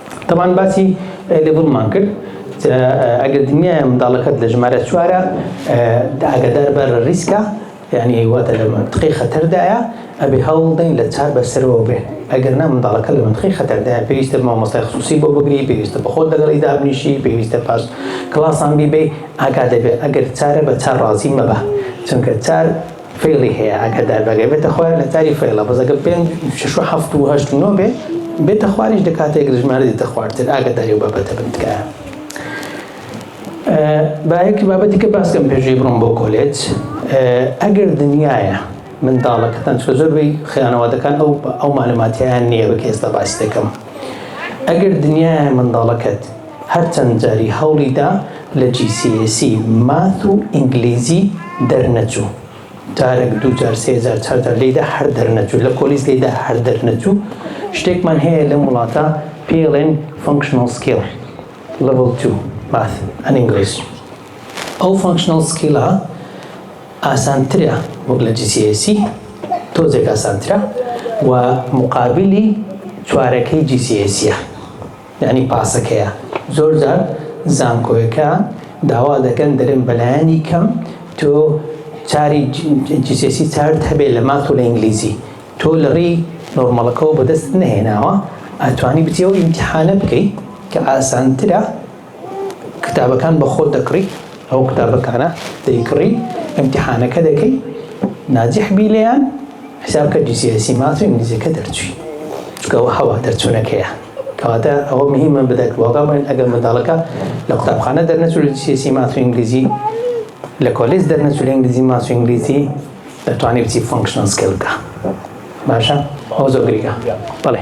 تەبان باسی لێبڵمان کرد ئەگەر دنیاە منداڵەکەت لە ژمارە چوارە ئاگدار بەر ریسکە یعنی واتە لە منتقی خەتەردایە ئەبێ هەوڵ دەین لە چار بەسەرەوە بێ ئەگەر نا منداڵەکە لە منتقی خەتەردایە پێویستە مامۆستای خصوصی بۆ بگری پێویستە بەخۆت لەگەڵی دابنیشی پێویستە پاش کلاسان بیبێ ئاگا دەبێ ئەگەر چارە بە چار ڕازی مەبە چونکە چار فەیڵی هەیە ئەگەر داربەگەر بێتە خوار نەتاری فەیڵە بەس ئەگەر پێنج شەش و هەفت و هەشت و نۆ بێ بێتە خواریش دە کاتێک لە ژمارە دێتە خوارتر ئاگاداری و بابەتە بن تکایە باەکی بابەتی کە باسکەم پێشوی بڕۆم بۆ کۆلێج ئەگەر دنیاە منداڵەکەتان چۆ زۆربەی خیانەوادەکان ئەو ئەو معلوماتیان نییە بە کێستا باس دەکەم ئەگەر دنیاە منداڵەکەت هەرچەند جاری هەوڵی دا لە GCSE ماث و ئینگلیزی دەرنەچوو جارەک دوو جار سێ جار چار جار لێیدا هەر دەرنەچوو لە پۆلیس لێیدا هەر دەرنەچوو شتێکمان هەیە لەم وڵاتە پێڵێن Functional Skill Level 2 Math and English ئەو Functional Skill ئاسانترە وەک لە GCSE تۆزێک ئاسانترە و مقابلی چوارەکەی GCSE یانی پاسەکەیە زۆر جار زانکۆیەکان داوا دەکەن دەرێن بەلایەنی کەم تۆ چاری جیسێسی چارت هەبێ لە مات و لە ئینگلیزی تۆ لە ڕێی نۆرمەڵەکەەوە بەدەست نەهێناوە ئەتوانی بچی ئەو ئیمتحانە بکەی کە ئاسانترە کتابەکان بە خۆت دەکڕی ئەو قوتابەکانە دەیکڕی ئیمتیحانەکە دەکەی ناجح بی لێیان حساب کە جیسیسی ماس و ئینگلیزیەکە دەرچوی چکە ئەوە هەوە دەرچوونەکەیە کەواتە ئەوە مهمە بدەک واقع بڵێن ئەگەر منداڵەکە لە قوتابخانە دەرنەچوو لە جیسیسی ماس و ئینگلیزی لە کۆلیس دەرنەچوو لە ئینگلیزی ماس و ئینگلیزی دەتوانێت بچی فۆنکشنەل سکیل بکە باشە ئەو زۆر گرنگە بەڵێ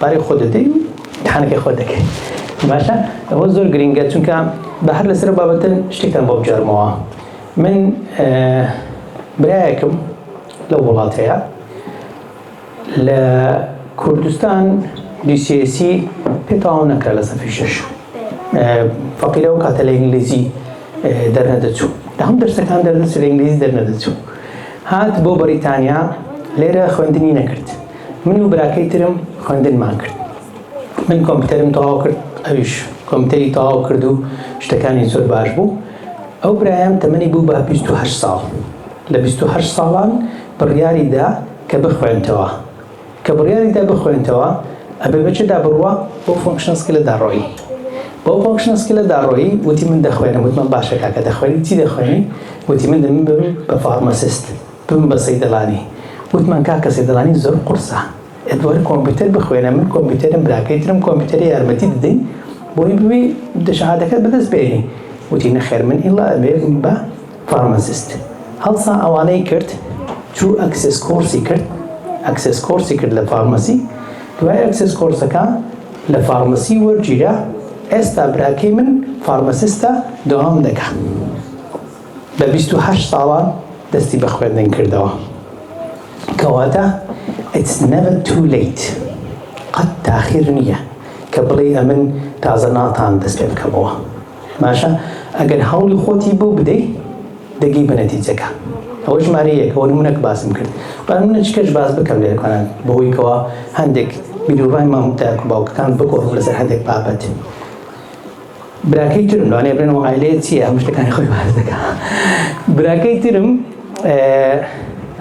پارەی خۆت دەدەی و امتحانەکەی خۆت دەکەی باشە ئەوە زۆر گرنگە چونکە بە هەر لەسەر بابەتە شتێکتان بۆ بجارمەوە من برایەکم لە وڵاتەیە لە کوردستان دیسیسی پێتاو نەکرا لە سەفی شش فەقیرە و کاتە لە ئینگلیزی دەرنەدەچوو لە هەم دەرسەکان دەردەچ لە ئینگلیزی دەرنەدەچوو هات بۆ بەریتانیا لێرە خوێندنی نەکرد من و براکەی ترم خوێندنمان کرد. من کۆمپیوتەرم تەواو کرد، ئەویش کۆمپیوتەری تەواو کرد و شتەکانی زۆر باش بوو. ئەو برایەم تەمەنی بوو بە بیست و هەشت ساڵ. لە بیست و هەشت ساڵان بڕیاری دا کە بخوێنتەوە. کە بڕیاری دا بخوێنتەوە، ئەبێ بە چێدا بڕوا؟ بەو فۆنکشنەڵ سکیلەدا ڕۆیی. بەو فۆنکشنەڵ سکیلەدا ڕۆیی، وتی من دەخوێنم. وتمان باشە کاکە دەخوێنی؟ چی دەخوێنی؟ وتی من دەمبم بە فارماسیست. بووم بە سەیدەڵانی وتمان کاکە سەیدەڵانی زۆر قورسە ئێت وەرە کۆمپیوتەر بخوێنە من کۆمپیوتەرم براکەی ترم کۆمپیوتەری یارمەتی دەدەین بۆی بوی شەهادەکەت بەدەست بێنی وتی نەخێر من ئیلا ئەبێ بم بە فارماسیست هەڵسا ئەوانەی کرد چوو ئەکسس کۆرسی کرد ئەکسس کۆرسی کرد لە فارماسی دوای ئەکسس کۆرسەکە لە فارماسی وەرگیرا ئێستا براکەی من فارماسیستە دەوام دەکە لە بیست و هەشت ساڵا دەستی بە خوێندن کردەوە. کەواتە It's never too late قەت تاخیر نییە کە بڵێی ئەمن تازە ناتان دەست پێ بکەمەوە. باشە ئەگەر هەوڵی خۆتی بۆ بدەی دەگەی بە نەتیجەکە. ئەوە ژمارە یەک ئەوە نمونەک باسم کرد. با نمونەچکەش باس بکەم لێرە کۆنان بەوەی کەوا هەندێک بیروڕای مام دایک و باوکەکان بگۆڕم لەسەر هەندێک بابەت. براکەی ترم لەوانەیە بڵێن ئەو عایلەیە چییە هەموو شتەکانی خۆی باس دەکا براکەی ترم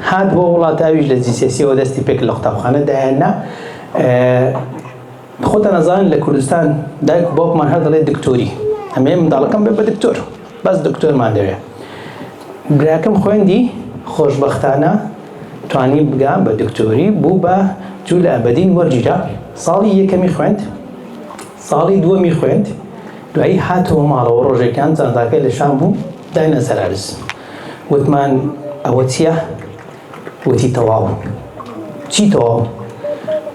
هات بۆ وڵات ئەویش لە جیسێسیەوە دەستی پێک لە قوتابخانە دایەننا خۆتان ئەزانن لە کوردستان دایک و باوکمان هەر دەڵێ دکتۆری ئەمێ منداڵەکەم بێ بە دکتۆر بەس دکتۆرمان دەوێ براکەم خوێندی خۆشببختانە توانی بگا بە دکتۆری بوو بە جوو لە ئەبدین وەرگیرا ساڵی یەکەمی خوێند ساڵی دووەمی خوێند، دوایی هاتەوە ماڵەوە، ڕۆژێکیان جانتاکەی لە شام بوو، داینە سەر عەرز، وتمان ئەوە چییە؟ وتی تەواو. چی تەواو؟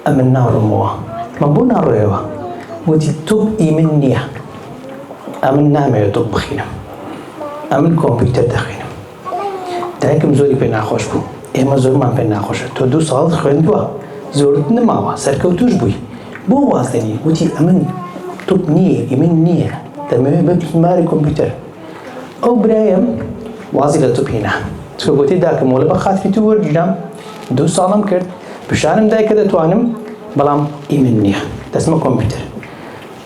ئەمن ناڕۆمەوە. وتمان بۆ ناڕۆیەوە؟ وتی تۆپ ئی من نییە، ئەمن نامەوێ تۆپ بخینم، ئەمن کۆمپیوتەر دەخوینم. دایکم زۆری پێ ناخۆش بوو ئێمە زۆرمان پێ ناخۆشە تۆ دوو ساڵت خوێندووە زۆرت نماوە سەرکەوتوش بووی بۆ وازدەنی وتی ئەمن توپ نییە ئیمن نییە دەمەوێت بە بیماری کۆمپیوتەر ئەو برایم وازی لە توپینە چکە گوتی داکەم وەلە بە خاتری تو وەرگیرام دوو ساڵم کرد پیشانم دای کە دەتوانم بەڵام ئیمن نییە دەستمە کۆمپیوتەر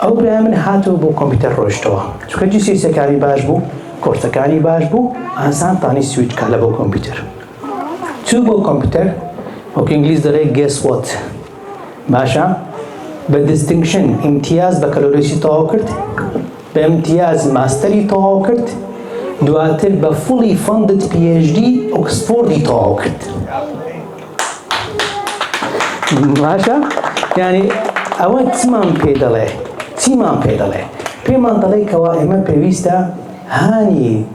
ئەو برای من هاتەوە بۆ کۆمپیوتەر ڕۆیشتەوە چونکە جی سی سەکانی باش بوو کۆرسەکانی باش بوو ئاسان تانی سویچ کا لە بۆ کۆمپیوتەر چوو بۆ کۆمپیوتەر وەک ئینگلیز دەڵێ گێس وات باشە بە دیستنگشن ئیمتیاز بە کەلۆریسی تەواو کرد بە ئیمتیاز ماستەری تەواو کرد دواتر بە فڵی فەندت پی ئێچ دی ئۆکسفۆردی تەواو کرد باشە یعنی ئەوە چمان پێ دەڵێ چیمان پێ دەڵێ پێمان دەڵێ کەوا ئێمە پێویستە هانی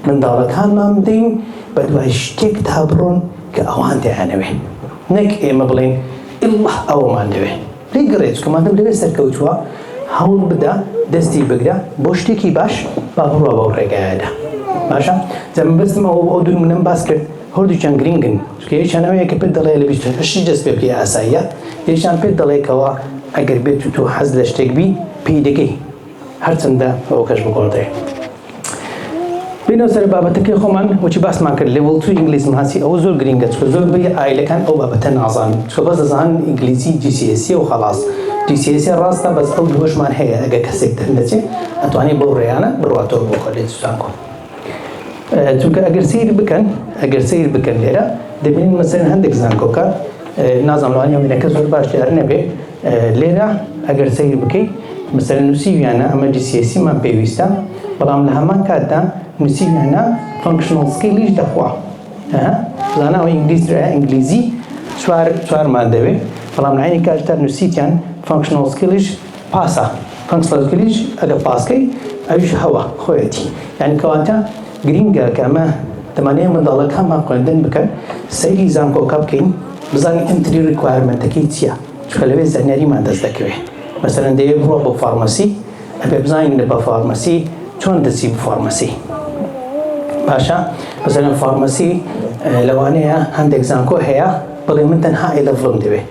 منداڵەکانمان بدەین بە دوای شتێک تا بڕۆن کە ئەوان دەیانەوێ نەک ئێمە بڵێن ئڵڵه ئەوەمان دەوێ لێی گەڕێ چونکە مادەم لەوێ سەرکەوتووە هەوڵ بدە دەستی بگرە بۆ شتێکی باش با بڕوا بەو ڕێگایەدا باشە جا مەبەستم ئەوە ئەو دوو نمونەم باس کرد هەردووکیان گرنگن چونکە یەکیان ئەوەیە کە پێت دەڵێ لە بیست و هەشت جەست پێ بکەی ئاساییە یەکیان پێت دەڵێ کەوا ئەگەر بێت و تۆ حەز لە شتێک بی پێی دەگەی هەرچەندە ئەوکەش بگۆڕدرێ. بینەوە سەر بابەتەکەی خۆمان وچی باسمان کرد لێ وڵتو ئینگلیز ماسی ئەوە زۆر گرینگە چکە زۆر بەی ئایلەکان ئەو بابەتە نازان چکە بەس دەزان ئینگلیزی جیسیسی و خەڵاس جیسیسی ڕاستە بەس ئەو دووەشمان هەیە ئەگە کەسێک دەرنەچێ ئەتوانێ بەو ڕێیانە بڕواتەوە بۆ کۆلێج زانکۆ. چونکە ئەگەر سیر بکەن ئەگەر سیر بکەن لێرە دەبینین مەسەن هەندێک زانکۆکە نازان لەوان یاوینەکە زۆر باش دیار نەبێ لێرە ئەگەر سیر بکەیت مەسەر نووسیویانە ئەمە جسیسیمان پێویستە بەڵام لە هەمان کاتدا نووسیویانە فنکشنڵ سکیلیش دەخوا زاناوە ئینگلیز ئینگلیزی چوار چوارمان دەوێت بەڵام لەینی کاتدا نووسیتیان فنکشنڵ سکیلیش پاسا، Punctal Glitch، ە لە پاسکەی، ئەویش هەوە، خۆیەتی. یانی کەواتە گرینگە کە ئەمە دەمانەوێت منداڵەکە هەمان خوێندن بکەن، سەیری زانکۆکە بکەین بزانین ئێنتری ڕیکوایەرمێنتەکەی چیە، چونکە لەوێ زانیاریمان دەست دەکەوێت. مەسەلەن دەیەوێت بڕوا بۆ فارمەسی، ئەبێت بزانین لە بە فارمەسی چۆن دەچی بە فارمەسی. باشە مەسەلەن فارمەسی لەوانەیە هەندێک زانکۆ هەیە بڵێ من تەنها ئەی لەڤڵم دەوێت.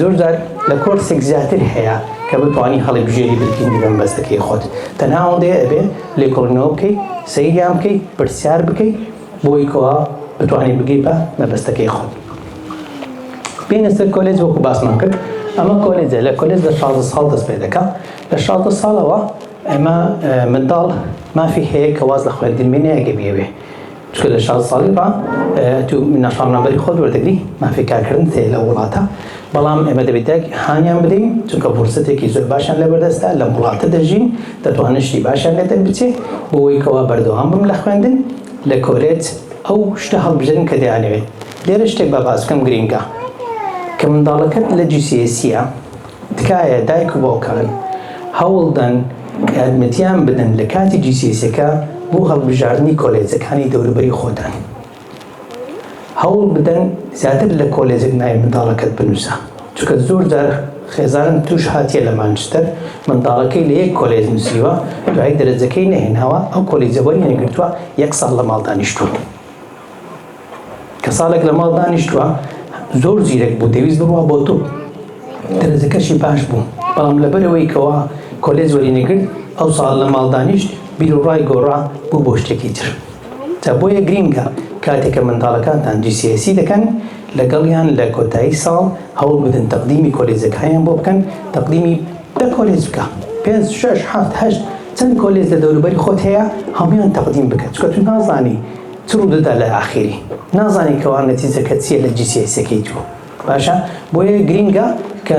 زۆر جار لە کۆرسێک زیاتر هەیە کە بتوانی هەڵیبژێری بتگیری بە مەبەستەکەی خۆت تەنها ئەوەندەیە ئەبێ لێکۆڵینەوە بکەی سەیریان بکەی پرسیار بکەی بۆی کەوا بتوانانی بگەی بە مەبەستەکەی خۆت بینە سەر کۆلێج وەکو باسمان کرد ئەمە کۆلێجە لە کۆلێج لە 16 ساڵ دەست پێ دەکا لە 16 ساڵەوە ئەمە منداڵ مافی هەیە کە واز لە خوێندن مێنێ ئەگە بیەوێ چونکە لە شازدە ساڵی ڕا تو نافەرمانبەری خۆت وەردەگری، مافی کارکردنت هەیە لەو وڵاتە، بەڵام ئێمە دەبێت دایک هانیان بدەین، چونکە فرسەتێکی زۆر باشیان لەبەردەستە، لەم وڵاتە دەژین، دەتوانن شتی باشیان لێ دەربچێت، بۆوەی کەوا بەردەوام بم لە خوێندن لە کۆلێج ئەو شتە هەڵبژێرن کە دەیانەوێت. لێرە شتێک با باس بکەم گرینگە، کە منداڵەکەت لە GCSE ە، تکایە دایک و باوکان هەوڵدەن یارمەتیان بدەن لە کاتی جیسیەسەکە بۆ هەڵبژاردنی کۆلێجەکانی دەوروبەری خۆتان هەوڵ بدەن زیاتر لە کۆلێجێک ناوی منداڵەکەت بنووسە چونکە زۆر جار خێزانم توش هاتیە لە مانچستەر منداڵەکەی لە یەک کۆلێج نووسیوە دوای دەرەجەکەی نەهێناوە ئەو کۆلێجەوەری نەگرتووە یەک ساڵ لە ماڵ دانیشتووە کە ساڵێک لە ماڵ دانیشتووە زۆر زیرەک بوو دەویست بڕوا بۆ تۆ دەرەجەکەشی باش بوو بەڵام لەبەرەوەی کەوا کۆلێز وەری نەگرت ئەو ساڵ لە ماڵ دانیشت بیر و ڕای گۆڕا بوو بۆ شتێکی تر تا بۆیە گرینگە کاتێکە منداڵەکانتان جیسیسی دەکەن لەگەڵیان لە کۆتایی ساڵ هەوڵ بدن تەقدیمی کۆلێزەکانیان بۆ بکەن تەقدیمی دە کۆلێز بکە پێ شش هەفت هەشت چەند کۆلێز لە دەوروبەری خۆت هەیە هەمویان تەقدیم بکە چکە تو نازانی چ ڕودەدا لە ئاخیری نازانی کەوا نەتیجەکە چیە لە جیسیەیسەکەی تو باشە بۆیە گرینگە کە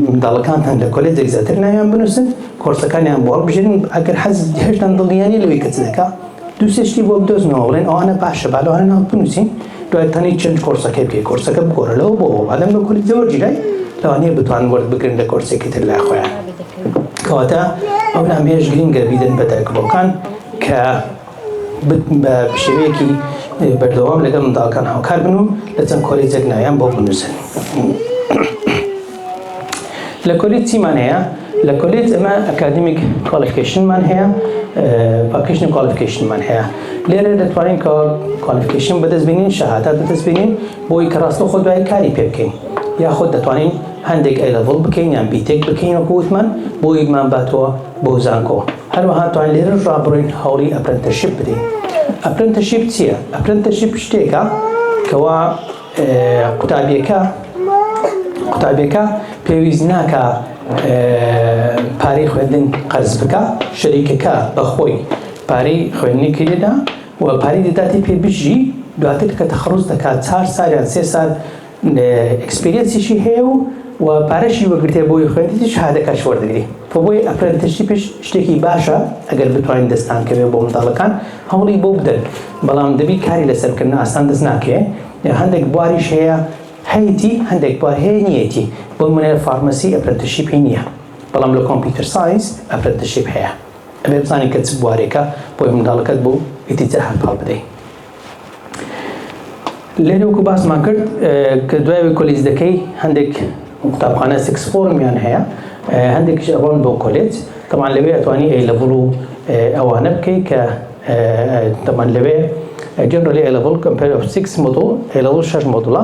منداڵەکانتان لە کۆلێجێک زیاتر ناویان بنوسن کۆرسەکانیان بۆ هەڵبژێرن ئەگەر حەز هێشتان دڵنیانی لەوەی کە چ دەکا دوو سێ شتی بۆ بدۆزنەوە بڵێن ئەوانە باشە با لەوانە ناو بنوسین دوای تەنی چەند کۆرسەکەی بکەی کۆرسەکە بگۆڕە لەوە بۆ ئەوە بادەم لە کۆلێجە وەرگیرای لەوانەیە بتوان وەرت بگرن لە کۆرسێکی تر لای خۆیان کەواتە ئەو نامەیەش گرینگە بیدەن بە دایک و باوکان کە بە شێوەیەکی بەردەوام لەگەڵ منداڵەکان هاوکار بن و لە چەند کۆلێجێک ناویان بۆ بنووسن. لە کۆلێج چیمان هەیە؟ لە کۆلێج ئەمە ئەکادمیک کوالیفیکیشنمان هەیە پاکیشن کوالیفیکیشنمان هەیە لێرە دەتوانین کە کوالیفیکیشن بەدەست بینین شەهادات بەدەست بینین بۆی کە ڕاستە خۆ دوای کاری پێ بکەین یاخود دەتوانین هەندێک ئەیلەڤڵ بکەین یان بیتێک بکەین وەکووتمان بۆیمان باتەوە بۆ زانکۆ هەروەها توان لێرەش ڕابڕۆین هەوڵی ئەپرنتەشیپ بدەین ئەپرنتەشیپ چییە ئەپرنتەشیپ شتێکە کەوا قوتابیەکە قوتابیەکە پێویست ناکە پارەی خوێندن قەرز بکە شەریکەکە بەخۆی پارەی خوێندنی کرێدا و پارەی دەداتی پێ بژی دواتر کە تەخڕوز دەکات چار ساریان سێ سال ئێکسپیرێنسیشی هەیە و و پارەشی وەرگرتیە بۆی خوێندی شهادەکەش وەردەگری بۆ بۆی ئەپرەنتشیپش شتێکی باشە ئەگەر بتوانین دەستان کەوێ بۆ منداڵەکان هەوڵی بۆ بدەن بەڵام دەبی کاری لەسەر بکەن ئاسان دەست ناکرێ هەندێک بواریش هەیە هەیەتی هەندێک بوار هەیە نیەتی بۆ منێ فارمەسی ئەپرەنتشیپی نییە بەڵام لە کۆمپیوتەر ساینس ئەپرەنتشیپ هەیە ئەبێ بزانین کە چ بوارێکە بۆی منداڵەکەت بۆ ئیتیجا هەنپاڵ بدەی لێرە وەکو باسمان کرد کە دوای کۆلیز دەکەی هەندێک قوتابخانە سکس فۆرمیان هەیە هەندێکش ئەڕۆن بۆ کۆلێج تەمان لەوێ ئەتوانی ئەی لەڤڵ و ئەوانە بکەی کە تەمان لەوێ جنرال ئەلەڤڵ کەمپەر سکس مۆدڵ ئەلەوڵ شەش مۆدڵە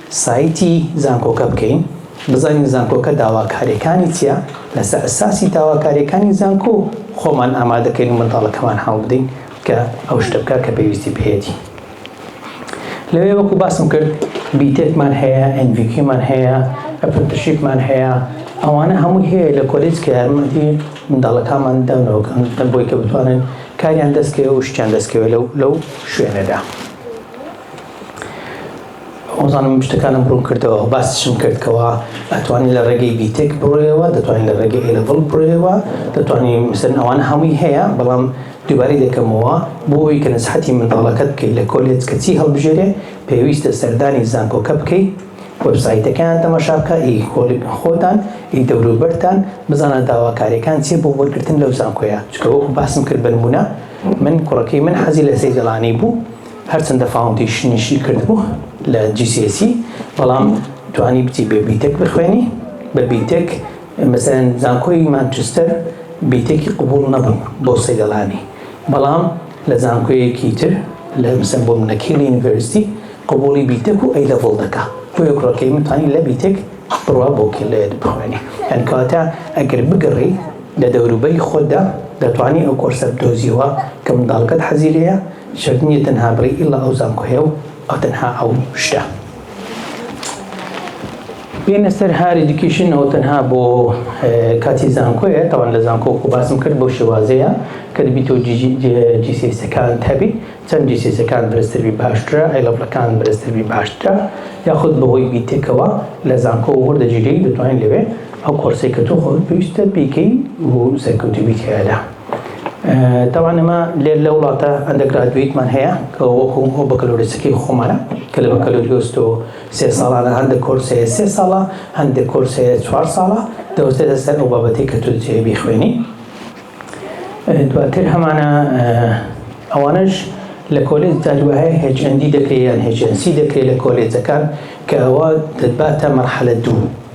سایتی زانکۆکە بکەین بزانین زانکۆکە داواکاریەکانی چیە لەسەر ئەساسی داواکاریەکانی زانکۆ خۆمان ئامادەکەین و منداڵەکەمان هەڵبدەین کە ئەو شتە بکە کە پێویستی پێیەتی لەوێ وەکو باسم کرد بیتێکمان هەیە ئەنجوکیمان هەیە ئەپرنتشیپمان هەیە ئەوانە هەمووی هەیە لە کۆلیج کە یارمەتی منداڵەکانمان دەنەوەکەن دەم بۆی کە بتوانن کاریان دەستکەوێ و شتیان دەستکەوێ لەو لەو شوێنەدا. وەزانم شتەکانم ڕوون کردەوە باسیشم کرد کەوا ئەتوانی لە ڕێگەی بیتێک بڕۆیەوە دەتوانین لە ڕێگەی ئێلەڤڵ بڕۆیەوە دەتوانین مثلن ئەوانە هەمووی هەیە بەڵام دووبارەی دەکەمەوە بۆی کە نسحەتی منداڵەکەت بکەیت لە کۆلێج کە چی هەڵبژێرێ پێویستە سەردانی زانکۆکە بکەیت وەبسایتەکەیان تەماشا بکە ئی خۆتان ئی دەوروبەرتان بزانە داواکاریەکان چیە بۆ وەرگرتن لەو زانکۆیە چکە وەکو باسم کرد بەنمونە من کوڕەکەی من حەزی لە سەیدەڵانی بوو هەرچەندە فاوندەیشنیشی کردبوو لە GCSE بەڵام توانی بچی بێ بیتێک بخوێنی بە بیتێک مەسەلەن زانکۆی مانچستەر بیتێکی قبوڵ نەبوو بۆ سەیدەڵانی بەڵام لە زانکۆیەکی تر لە مەسەلەن بۆ منە کیل یونیڤەرستی قبوڵی بیتێک و ئەی لەڤڵ دەکا بۆیە کوڕەکەی من توانی لە بیتێک بڕوا بۆ کیل بخوێنی یان کەواتە ئەگەر بگەڕی لە دەوروبەری خۆتدا دەتوانی ئەو کۆرسە بدۆزیەوە کە منداڵەکەت حەزی لێیە شەرت نیە تەنها بڵێی ئیلا ئەو زانکۆ یە و ئەو تەنها ئەو شتە بێنە سەر هار ئیدوکیشن ئەو تەنها بۆ کاتی زانکۆیە تاوان لە زانکۆ خۆ باسم کرد بۆ شێوازەیە کە دەبی تۆ جیسیسەکان هەبی چەند جیسیسەکان بەرزتربی باشترە ئەیلەبلەکان بەرزتربی باشترە یاخود بەهۆی بیتێکەوە لە زانکۆ وەردەگیری دەتوانین لەوێ ئەو کۆرسی کە تۆ خۆت پێویستە بیکەی و سەرکەوتوبی تیادا تاوان ئەمە لێر لە وڵاتە ئەندەگرادویتمان هەیە کە وەکو ئەو بەکەلۆریسەکەی خۆمانە کە لە بەکەلۆریۆست و سێ ساڵانە هەندە کۆرس هەیە سێ ساڵە هەندێک کۆرس هەیە چوار ساڵە دەوەستێتە سەر ئەو بابەتی کە تۆ جێ بیخوێنی دواتر هەمانە ئەوانش لە کۆلێج دادوایە هێچەندی دەکرێت یان هێچەنسی دەکرێت لە کۆلێجەکان کە ئەوە دەباتە مەرحەلە دوو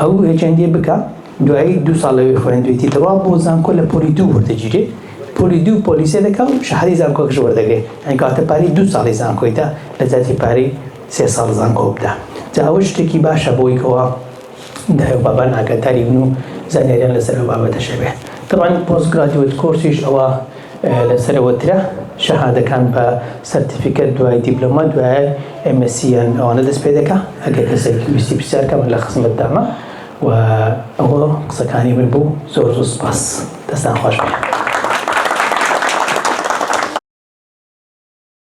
ئەو هێچەندی بکا دوایی دوو ساڵ لەوێ خوێندوێتی دەوا بۆ زانکۆ لە پۆلی دوو وەردەگیرێ پۆلی دوو پۆلیسێ دەکا و شەهادەی زانکۆکەش وەردەگرێ یانی کەواتە پارەی دوو ساڵی زانکۆی دا لە جاتی پارەی سێ ساڵ زانکۆ بدا جا ئەوە شتێکی باشە بۆی کەوا دایە و بابان ئاگاداری بن و زانیاریان لەسەر ئەو بابەتەش هەبێ طبعا پۆست گرادیوێت کۆرسیش ئەوە لە سەرەوە ترە شەهادەکان بە سەرتیفیکەت دوای دیبلۆما دوای MSc یان ئەوانە دەست پێ دەکا ئەگەر کەسێک ویستی پرسیار کە من لە خزمەت دامە و ئەوە قسەکانی من بوو زۆر زۆر سپاس دەستان خۆش بێ.